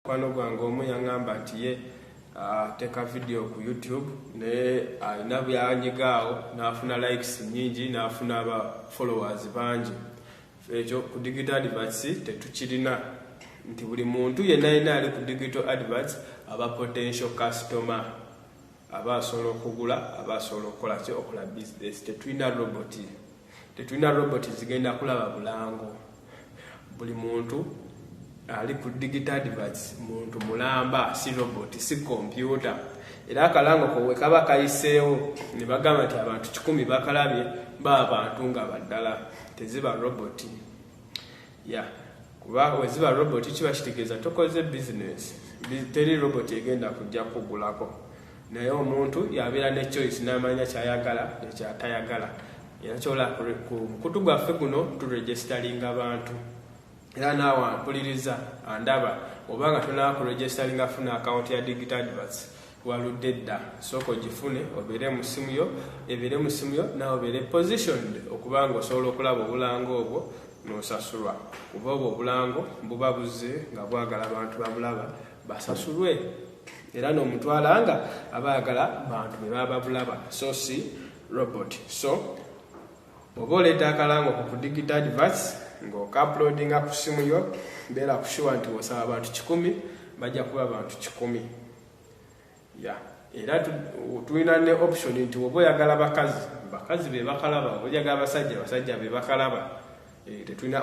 mukwano gwange omu yaŋamba nti ye ateeka vidiyo ku youtube naye alina byanyiga awo n'afuna likes nyingi n'afuna aba followers bangi ekyo ku digital adverts tetukirina nti buli muntu yenna yenna ali ku digital adverts aba potential customer aba asobola okugula aba asobola okukola ki okola business tetulina roboti tetulina robot zigenda kulaba bulango buli muntu ali ku digital adverts muntu mulamba si robot si kompyuta era akalango kowe kaba kayiseewo ne bagamba nti abantu kikumi bakalabye ba bantu nga baddala teziba roboti ya kuba weziba robot kiba kitegeeza tokoze bizinesi teri robot egenda kujja kugulako naye omuntu yabeera ne choice n'amanya kyayagala ekyatayagala era kyola ku mukutu gwaffe guno turegisteringa abantu era naawe ampuliriza andaba oba nga tonaba ku registeringa afuna akawunti ya digital advats waludde dda sooka ogifune obeere mu ssimu yo ebeere mu ssimu yo nawe obeere positioned okuba nga osobola okulaba obulanga obwo nosasulwa kuba obwo obulango buba buzze nga bwagala abantu babulaba basasulwe era nomutwala nga aba ayagala bantu bebaba babulaba so si robot so oba oleeta akalango ku kudigita advance ngaokaplodinga ku simu yo beera kushuwa nti osaba abantu kikumi bajja kuba bantu kikumi ya era tulina ne option nti oba oyagala bakazi bakazi be bakalaba oba oyagala basajja basajja be bakalaba eh, tetulina